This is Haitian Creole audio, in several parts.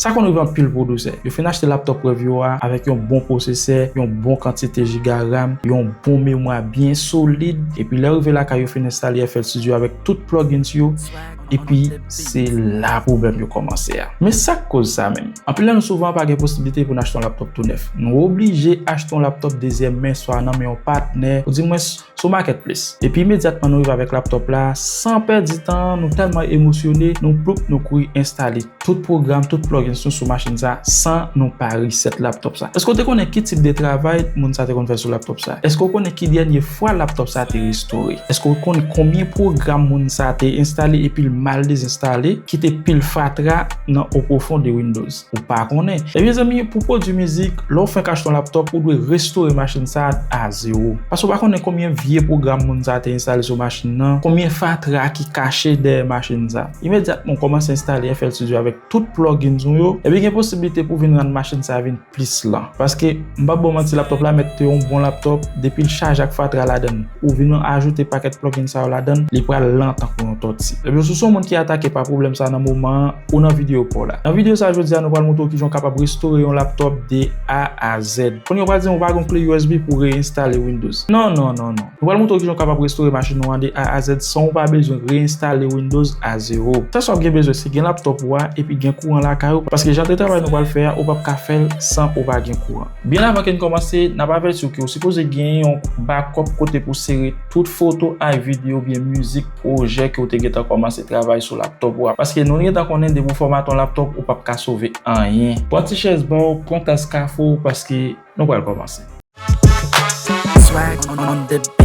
Sa konn rive anpil pwodwisè. Yo fin achte laptop preview a avèk yon bon pwosesè, yon bon kantite jiga ram, yon bon memwa byen solid, epi lè yo rive lakay yo fin enstale FL Studio avèk tout plugins yo, epi se la pwoblèm yo kòmanse a. Men sa k koz sa menm? Anpil nan nou souvan pa gen posiblite pou n achte yon laptop tou nèf. Nou oblije achte yon laptop dezyèm men swa nan men yon patnè, oudimwens, sou Marketplace. Epi imedyatman nou rive avèk laptop la, san pèdi tan, nou tèlman emosyone, nou ploup nou kouri enstale tout pwogram, tout plugins nou sou machin sa san nou pa reset laptop sa. Eske w te konnen ki tip de travay moun sa te konn fè sou laptop sa? Eske w konnen ki dènye fwa laptop sa te restore? Eske w konn konbyen pwogram moun sa te enstale epi l mal dezenstale, kite pil fatra nan opwofon de Windows? ou pa konnen. Ebyen zanmi pou pwodwi mizik, lè ou fenk achte yon laptop ou dwe restore machin sa a zewo. Paske ou pa konnen konbyen vye pwogram moun sa a te enstale sou machin nan, konbyen fatra ki kache dèyè machin sa a. Imedyatman ou kòmanse enstale FL Studio avèk tout plugins ou yo, ebyen gen posiblite pou vin rann machin sa a vin plis lan. Paske. M pap baw manti laptop la mèt te yon bon laptop depil chaje ak fatra ladann ou vin ajoute pakèt plugin sa yo ladann li pral lan tankou yon tòti ebyen si w se yon moun ki atake pa pwoblèm sa nan moman an ou nan videyo paw la nan videyo sa jodia nou pral montre w kijan w kapab restore yon laptop de A a Z konnenw pral dim ou pa gen yon kle usb pou w re enstale windows non non non non. Nou pral montre w kijan w kapab restore machin ou an de A a Zèd san w pa bezwen re-enstale Windows a zewo. Sèl sa w ap gen bezwen se gen laptop ou a epi gen kouran lakay ou paske jan de travay nou pral fè a ou pap ka fè l san ou pa gen kouran. Byen avan ke n kòmanse, n ap avèti w ke w sipoze gen yon bakòp kote pou w sere tout foto ak videyo oubyen mizik pwojè ke w te gentan kòmanse travay sou laptop ou a paske nou gentan konnen depi w fòmate yon laptop ou pap ka sove anyen. Pran ti chèz ba w, pran tas kafe w paske. Nou pral kòmanse. Swag on the beat.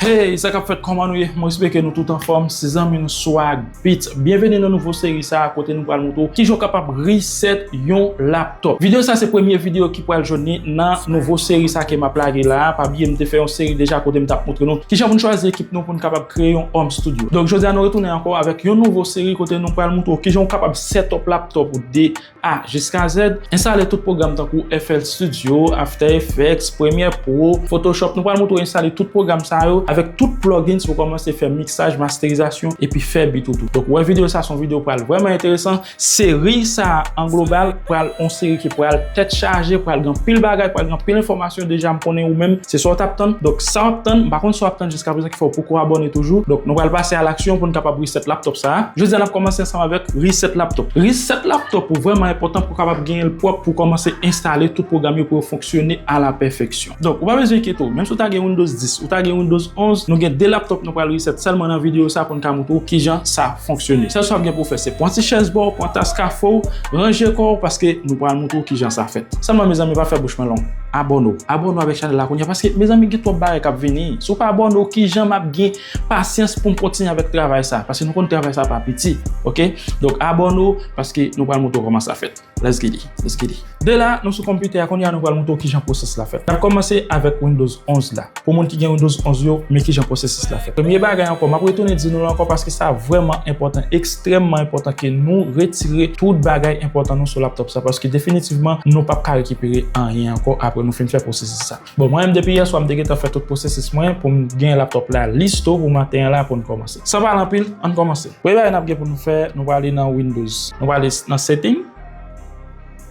Hey sa kap fèt kòman nou ye mwen espeke nou tout anfòm se zanmi nou swag beat byenveni nan nouvo seri sa kote nou pral moutre w kijan w kapab reset yon laptop. Top. Video sa se premye video ki pral jwenn li nan nouvo seri sa ke map lage la a. Pa bliye m te fè yon seri deja kote m tap moutre nou kijan pou n chwazi ekip nou pou n kapab kreye yon home studio. Donk jodi a nou retounen ankò avèk yon nouvo seri kote nou pral moutre w kijan ou kapab setup laptop ou de A jiska Z. Enstale tout pwogram tankou FL Studio, After Effects, Premiere Pro, Photoshop. Nou pral moutre w enstale tout pwogram sa yo avèk tout plugins pou kòmanse fè mixaj, masterizasyon epi fè beat ou tou. Donk wè video sa se yon video pral vrèman enteresan. Seri sa a an global pral on seri ki pral tèt chaje, pral gen anpil bagay, pral gen anpil enfòmasyon deja m konnen ou menm se sa w t ap tann. Donk sa w ap tann, m pa konn sa w ap tann jiska prezan ki fè w poko abòne toujou. Donk nou pral pase a laksyon pou n kapab reset laptop sa a. Jodi a n ap kòmanse ansanm avèk reset laptop. Reset laptop ou vrèman enpòtan pou w kapab genyen l pwòp pou w kòmanse enstale tout pwogram yo pou yo fonksyone a la pèfeksyon. Donk ou pa bezwen enkyete w, menm si w ta gen Windows 10, ou ta gen Windows 11, nou gen 2 laptop nou pral reset sèlman nan videyo sa pou n ka montre w kijan sa fonksyone. Sèl sa w ap gen pou w fè se pran ti chèz ba w, pran tas kafe w, ranje kò w paske nou pral montre w kijan sa fèt. Sèlman mezanmi pa fè bouch mwen long, abòne w. Abòne w avèk chanèl la kounya paske mezanmi gen twòp bagay k ap vini. Si w pa abòne w kijan m ap gen pasyans pou m kontinye avèk travay sa paske nou konn travay sa pa piti ok. Donk abòne w paske nou pral montre w kòman sa fèt. Let's get it, let's get it. De la, nou sou konpitè a, kounye a nou pral montre w kijan pwosès la fèt. N ap kòmanse avèk Windows 11 la. Pou moun ki gen Windows 11 yo, men kijan pwosesis la fèt. Premye bagay ankò, m ap retounen di nou l ankò paske sa vrèman enpòtan, ekstrèmman enpòtan ke nou retire tout bagay enpòtan nou sou laptop sa paske definitivman nou p ap ka rekipere anyen ankò apre nou fin fè pwosesis sa. Bon mwen menm depi yè swa m te gentan fè tout pwosesis mwen pou m gen laptop la listo pou maten an la pou n kòmanse. San pale anpil, an n kòmanse. Premye bagay n ap gen pou nou fè, nou prale nan Windows. Nou prale nan Setting.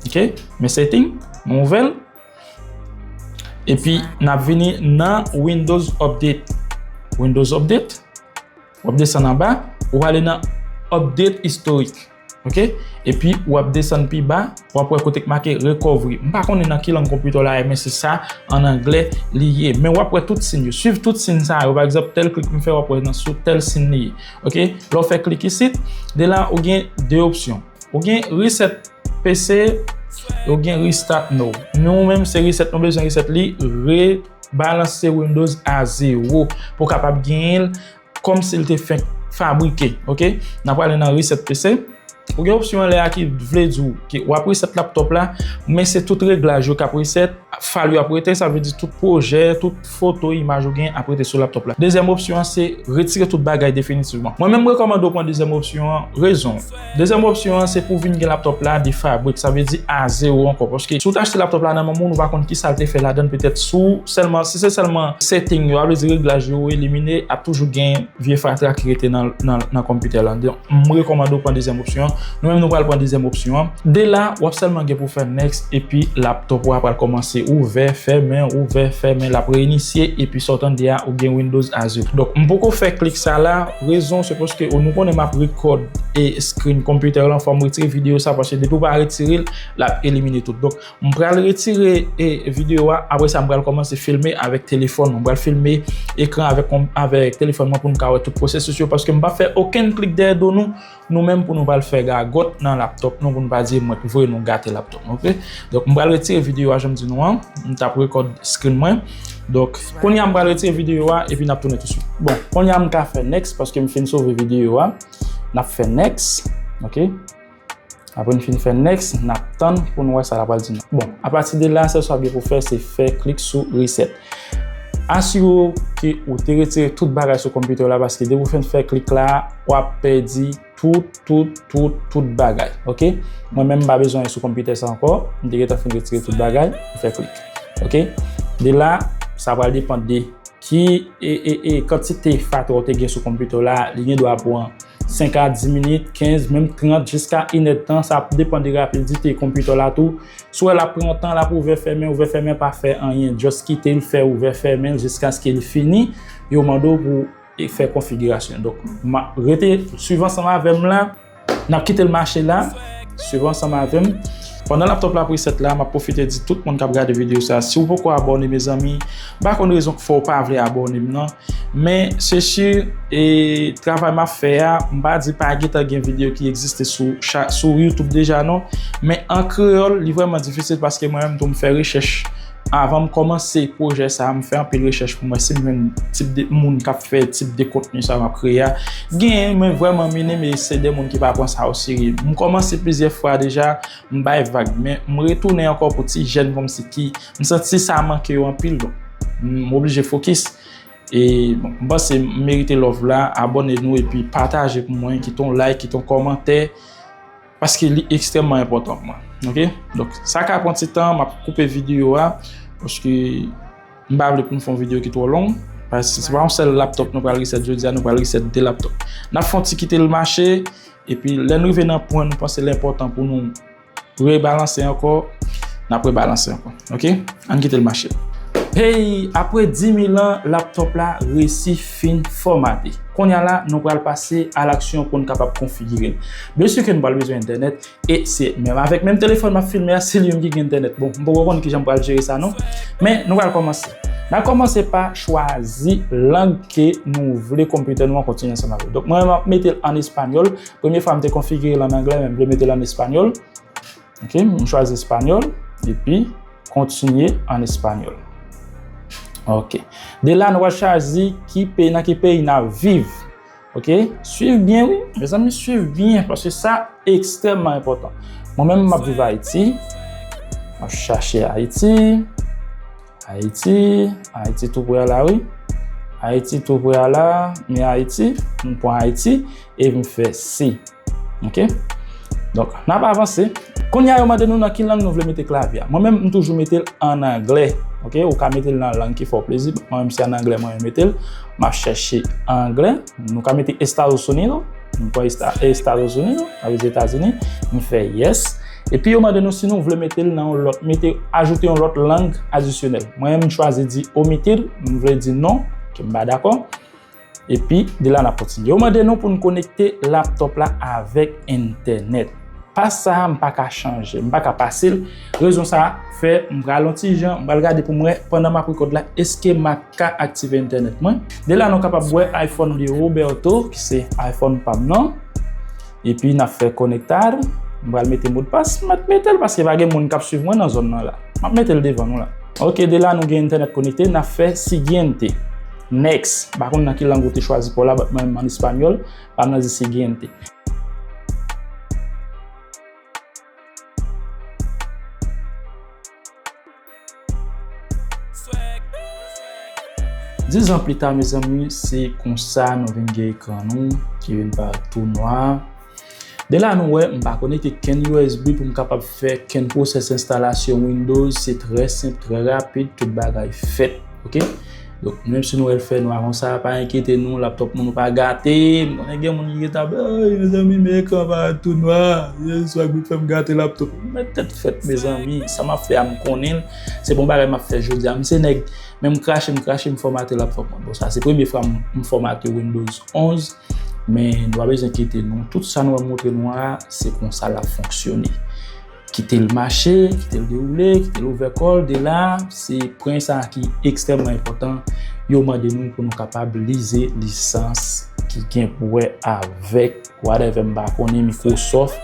Ok, men Setting, nou ouvè l. Epi n ap vini nan Windows Update. Windows Update. W ap desann anba, ou prale nan Update Historique. Ok epi wap desann pi ba wap wè kote ki make recovery m pa konnen nan ki lang konpitè w la ye men se sa an anglè li ye men wap wè tout siy yo swiv tout siy sa yo pa egzanp tèl klik m fè wap wè nan sou tèl siy li ye ok lè w fè klik isit de la ou gen 2 opsyon ou gen reset PC ou gen restart nou nou menm se reset nou bezwen reset li re balanse windows a 0 pou kapab genyen l Kòm si l te fenk fabrike. Ok. N ap prale nan reset PC. Ou gen opsyon anlè a ki vle di w ke w ap reset laptop la, men se tout reglaj yo k ap reset, fayl yo ap rete, sa vle di tout pwojè, tout foto, imaj ou gen ap rete sou laptop la. Dezyèm opsyon an se retire tout bagay definitivman. Mwen menm m rekòmande w pran dezyèm opsyon an, rezon. Dezyèm opsyon an se pou vin gen laptop la de fabrik, sa vle di a zewo ankò. Paske si w te achte laptop la nan manman w, nou pa konn kisa l te fè ladan l. Petèt si w sèlman, si se sèlman setting yo, a vle di reglaj yo ou elimine, ap toujou gen vye fatra ki rete nan nan konpitè lan. Donk, m rekòmande w pran dezyèm opsyon an. Nou menm nou pral pran dezyèm opsyon an. De la, w ap sèlman gen pou w fè next epi laptop ou a pral kòmanse ouvè, fèmen, ouvè, fèmen, l ap reinisye epi sa w tande a ou gen Windows Azure. Donk, m poko fè klik sa la. Rezon se paske ou nou konnen map record e screen computer lan fòm retire video sa paske depi ou pa retirel lap elimine tout donk m pral retire e video a apre sa m pral kòmanse filme avèk telefòn mwen m pral filme ekran avèk avèk telefòn mwen pou nou ka wè tout processus yo paske m pap fè okenn klik dèyè do nou Nou menm pou nou pral fè gagòt nan laptop nou pou nou pa di mwen t voye nou gate laptop nou ok donk m pral retire video a janm di nou an m tap rekòd screen mwen donk kounya m pral retire video a epi nap tounen touswit bon kounya m ka fè next paske m fin sove video a nap fè next ok apre m fin fè next nap tann pou nou wè sa la pral di nou bon apati de la sèl sa w gen pou fè se fè klik sou reset. Asire w ke ou te retire tout bagay sou konpitè w la paske depi ou fin fè klik la w ap pèdi tout tout tout tout bagay ok mwen menm m pa bezwen sou konpitè sa ankò m te gentan fin retire tout bagay m fè klik ok de la sa pral depan de ki ee kantite fatra w te gen sou konpitè w la li gen dwa pran 5 a 10 minit 15 menm 30 jiska 1 èdtan sa ap depan de rapidite konpitè w la tou. Si w wè l ap pran yon tan l ap ouvè fèmen ouvè fèmen pa fè anyen just kite l fè ouvè fèmen l jiskaske l fini yo mande w pou w fè konfigirasyon donk rete swiv ansanm avè m la n ap kite l mache la swiv ansanm avè m pandan laptop la ap reset la m ap pwofite di tout moun k ap gade videyo sa si w poko abòne mezanmi m pa konn rezon k fè w pa vle abòne m nan. Men se si e travay map fè a m pa di pa gentan gen video ki egziste sou YouTube deja non men an kreyòl li vrèman difisil paske mwen menm tou m fè rechèch avan m kòmanse pwojè sa m fè anpil rechèch pou m wè si m jwenn tip de moun kap fè tip de kontni sa map kreye a genyen men vrèman minim e se de moun ki pa pran sa oserye m kòmanse plizyè fwa deja M bay vag men m retounen ankò pou ti jèn kòmsi ki m santi sa manke yo anpil donk m oblije fokis e bon m panse m merite love la abòne nou epi pataje pou mwen kite yon like kite yon kòmantè paske li ekstrèmman enpòtan pou mwen ok donk sa ka pran ti tan m ap koupe videyo a paske m pa vle pou m fè yon videyo ki twò long paske se pa yon sèl laptop nou pral reset jodi a nou pral reset 2 laptop n ap fè yon ti kite l mache. Epi lè nou rive nan pwen nou panse l enpòtan pou nou rebalanse ankò, n ap rebalanse ankò. Ok, ann kite l mache. Hey, apre dimil an, laptop la resi fin fòmate. Konnya la, nou pral pase al aksyon pou n kapab konfigire l. Byen si ke nou pral bezwen entènèt, e se menm avèk menm telefòn m ap filme a, se li menm ki gen entènèt. Bon, m poko konn kijan m pral jere sa non. Men, nou pral kòmanse. N a kòmanse pa chwazi lang ke nou vle computer nou an kontinye ansanm avèl. Donk mwen menm map metel an español, premye fwa mte konfigirel an anglè men mvle metel an español, ok m chwazi español epi kontinye an español ok de la nou pral chwazi ki peyi nan ki peyi nap viv ok swiv byen wi mezanmi swiv byen paske sa ekstrèmman enpòtan mwen menm map viv ayiti map chache ayiti. Ayiti, Ayiti tou pre a la wi. Ayiti tou pre a la, men Ayiti, m pran Ayiti e m fè si. Ok. Donk, n ap avanse. Kounye a yo mande nou nan ki lang nou vle mete klavye a. Mwen menm m toujou mete l an angle. Ok, ou ka mete l nan lang ki fè w plezi. Mwen menm se an angle mwen mete l. M ap chèche angle. Nou ka mete Estados Unidos. M pran Estatosini non, sa vle di Etazini, m fè yes. Epi yo mande nou si nou vle mete l nan yon lòt, mete, ajoute yon lòt lang adisyonèl. Mwen menm m chwazi di omitir, m vle di non, ke m pa dakò. Epi de la n ap kontinye. Yo mande nou pou n konekte laptop la avèk entènèt. Pas sa a m pa ka chanje, m pa ka pase l. Rezon sa fè m pral yon ti jan, m pral gade pou m wè pandan m ap rekòd la eske m ap ka aktive entènèt mwen. De la nou kapab wè iPhone de Roberto ki se iPhone pa m nan. Epi n ap fè conectar. M pral mete modpas. M mèt mete l paske pa gen moun k ap swiv mwen nan zòn nan la. M ap mete l devan nou la. Ok de la nou gen entènèt konekte, n ap fè siguiente. Next. M pa konn nan ki lang ou te chwazi pou w la but mwen menm an espanyòl pa m nan di siguiente. Diz an plita mezanmi se konsa nou vin gen ekran nou ki vin pa tou nwa. De la nou wè m pa konekte kenn usb pou m kapab fè kenn pwosès enstalasyon Windows. Se trè senp, trè rapid, tout bagay fèt. Donk menm si nou wè l fè nwa konsa pa enkyete nou l ap tòp moun ou pa gate m konnen gen moun ki gen ta ap eey mezanmi men ekran pa a tou nwa eey swa gwoup fè m gate l ap tòp m mèt tèt frèt mezanmi sa m ap fè a m konnen l se bon bagay m ap fè jodi a m se nèg menm krache m krache m fòmate l ap fòmate m bon sa se premye fwa m fòmate windows 11 men nou pa bezwen enkyete nou tout sa nou ap montre nou a se konsa l ap fonksyone. Kite l mache, kite l dewoule, kite l ouvè kò l, de la, se pwen sa a ki ekstrèmman enpòtan, yo mande nou pou nou kapab lise lisans ki gen pou wè avèk whatever m pa konnen, Microsoft,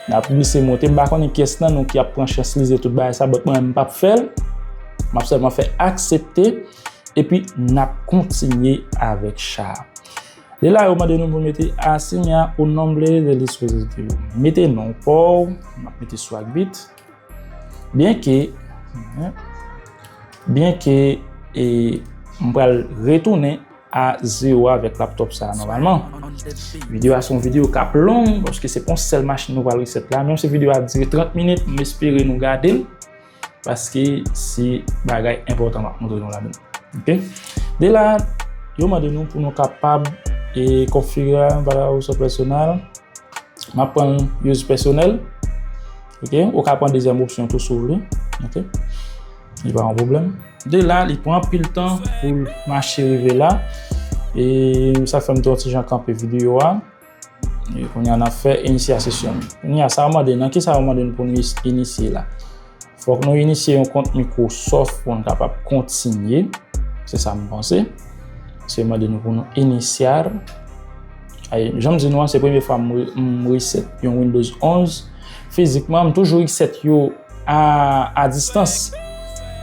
n ap glise monte, m pa konnen kyès nan nou ki ap pran chans lise tout bagay sa, but mwen menm m p ap fè l, m ap sèlman fè aksepte, epi n ap kontinye avèk cha a. Li la yo mande nou pou mete asigna un nombre del dispositivo. Mete non pa w, m ap mete sou ak bit. Byenke, byenke e m pral retounen a zero avèk laptop sa nòmalman. Video a se yon video k ap long paske se pa yon sèl machin nou pral reset la. Menm si video a dire 30 minit, m espere nou gade l. Paske se bagay enpòtan map montre nou la menm. Ok. De la, yo mande nou pou nou kapab e konfigure bala ou sou pèsonèl. Map pran use pèsonèl. Ok. Ou ka pran dezyèm opsyon tou si w vle. Ok. Li pa yon pwoblèm. De la, li pran anpil tan pou l mache rive la. E sa fèm ton ti jan kanpe videyo a. Kounya nap fè inisyasesyon. Kounya sa yo mande nan kisa yo mande nou pou nou inisye la. Fòk nou inisye yon kont Microsoft pou nou kapab kontinye. Se sa m panse. Se mande nou pou nou inisyar. Ay, janm di nou an se premye fwa m reset yon Windows 11. Fizikman m toujou reset yo a distans.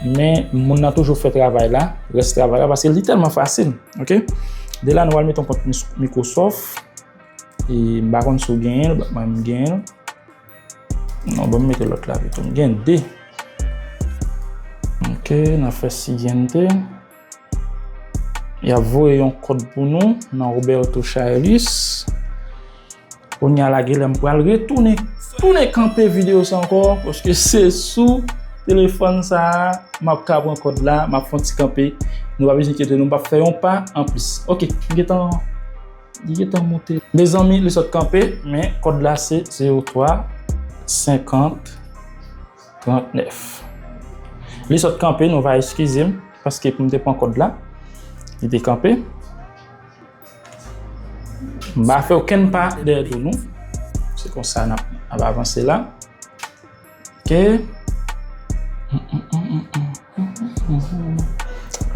Men moun nan toujou fè travay la. Rès travay la paske li tèlman fasil. Ok, de la nou al met yon kont Microsoft. E m pa konn si w genyen l, mwen m genyen l. Non, ban m mete lòt la pito. M gen 2. Ok, n ap fè siguiente. Y ap voye yon kòd pou nou nan Roberto Chailus. Konya la genlè m pral retounen tounen kanpe video sa ankò paske se sou telefòn sa map ka pran kòd la map fon ti kanpe nou pa bezwen enkyete nou m pap fè yon pa anplis ok m gentan li gentan monte mezanmi li sot kanpe men kòd la se 03 50 39 li sot kanpe nou va eskize m paske pou m te pran kòd la li te kanpe. Mba fè okenn pa dèyè do nou. Se konsa n ap avanse la. Ok.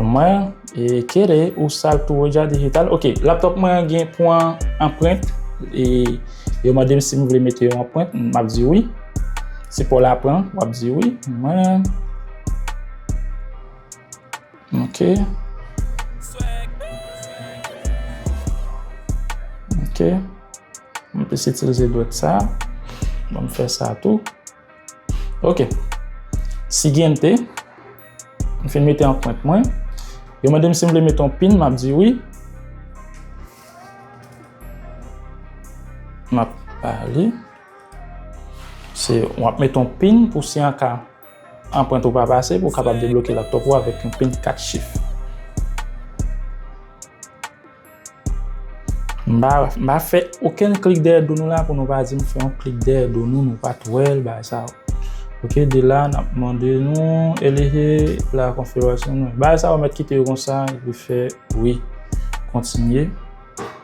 Mwen kere ou sal tou Roja Digital. Ok. Laptop mwen gen pou an anprent. E yo mande m si m vle mete yon anprent. M ap di wi. Se pou w la pran. M ap di wi. Mwen. Ok Ok Mwen plis itilize dwèt sa Mwen fè sa tou Ok Siguiente Mwen fin mete anprent mwen Yo mande m si m vle mete yon pin M ap di wi M ap pale Se w ap mete yon pin pou si an ka Anprent ou pa pase pou w kapab debloke laptop ou avèk yon pin 4 chif. M pa fè okenn klik dèyè do nou la pou nou pa di m fè yon klik dèyè do nou, nou pa t wè l bagay sa yo. Ok, de la n ap mande nou elege la konfigurasyon nou. Bagay sa yo mèt kite yo konsa epi fè wi, kontinye.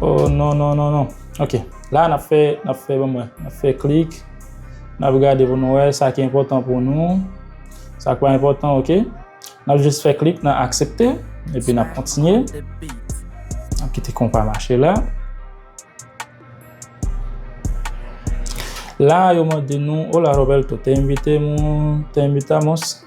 Oh non non non non ok la nap fè nap fè banm wè nap fè klik nap gade pou nou wè sa ki enpòtan pou nou sa ki pa enpòtan ok nap jis fè klik nan aksepte epi nap kontinye nap kite konpa mache la la yo mande nou hola Roberto te envite moun te envitamos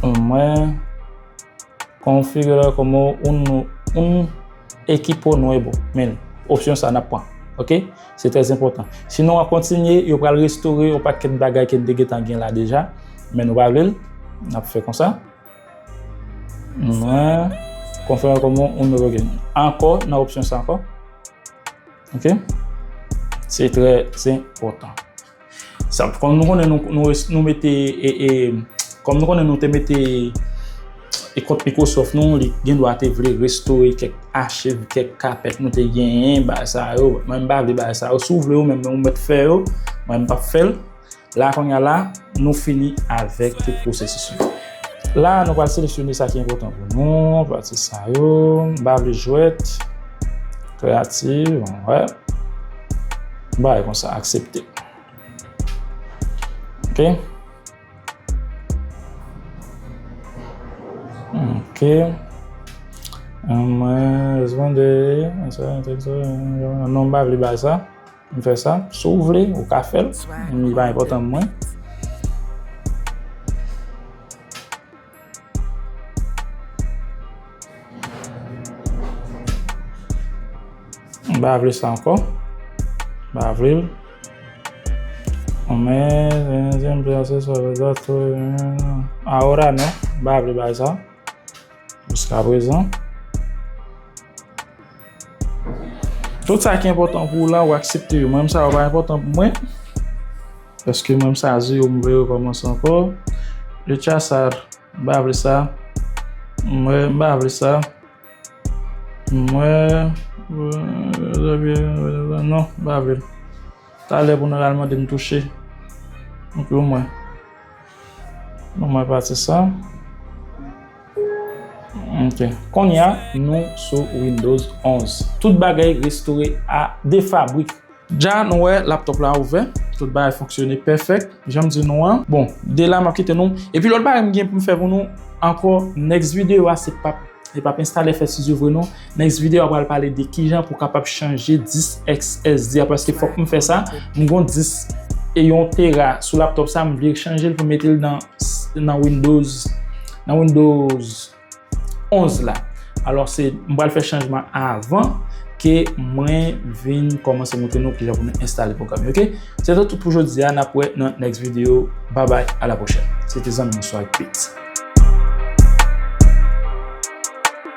Pou mwen, konfigire kòmò oun nou oun ekipo nuevo min opsyon sa nap pran. Ok, se trè enpòtan. Si nou an kontinye, yo pral restore yon pakèt bagay ke n te gentan gen la deja, men nou pa vle l, nap fè konsa. Mwen konfigire kòmò oun nuevo gin. Ankò nan opsyon sa ankò. Ok, se trè enpòtan. Sa fòm nou konnen nou mete e kòm nou konnen nou te mete e kont Microsoft nou li gen dwa te vle restore kèk achiv, kèk kapèt nou te genyen ba sa yo. Mwen pa vle ba sa yo. Si w vle yo menm nou mèt fè yo, mwen pa fè l. La konya la nou fini avèk tout pwosesis yo. La a nou pral seleksyone sa ki enpòtan pou nou, pati sa yo, m pa vle jwèt, kreyativ, wè, m bay kon sa, aksepte. Ok. Ok. Mwen responde, non m pa vle bay sa. M fè sa. Si w vle, ou ka fè l. Li pa enpòtan pou mwen. M pa vle sa ankò. M pa vle l. M pa vle bagay sa. Jiska prezan. Tout sa ki enpòtan pou ou la ou aksepte yo. Mwen menm sa yo pa enpòtan pou mwen. Paske mwen menm sa ze yo mwen vle rekòmanse ankò. Le chasar. Mwen pa vle sa. Mwen pa vle sa. Mwen. Non, mwen pa vle l. Talè pou nou al mande m touche m klou mwen. Bon mwen pase sa. Ok. Konnya nou sou Windows 11. Tout bagay restore a de fabrik. Dja nou wè laptop la ouvè. Tout bagay fonksyone pèfèk janm di nou an. Bon de la map kite nou. Epi lòt bagay m gen pou m fè pou nou ankò next video a se pap li pap enstale fè studio vre non. Next video a pral pale de kijan pou kapab chanje disk SSD a paske fòk m fè sa, m gon disk e yon tera sou laptop sa m vle chanje l pou m mete l nan windows nan windows 11 la alò se m pral fè chanjman avan ke mwen vin kòmanse montre nou kijan pou nou enstale pwogram yo ok se sa tout pou jodi a n ap wè nan next video babay a la pwochèn se te zanmi nou swag beatz.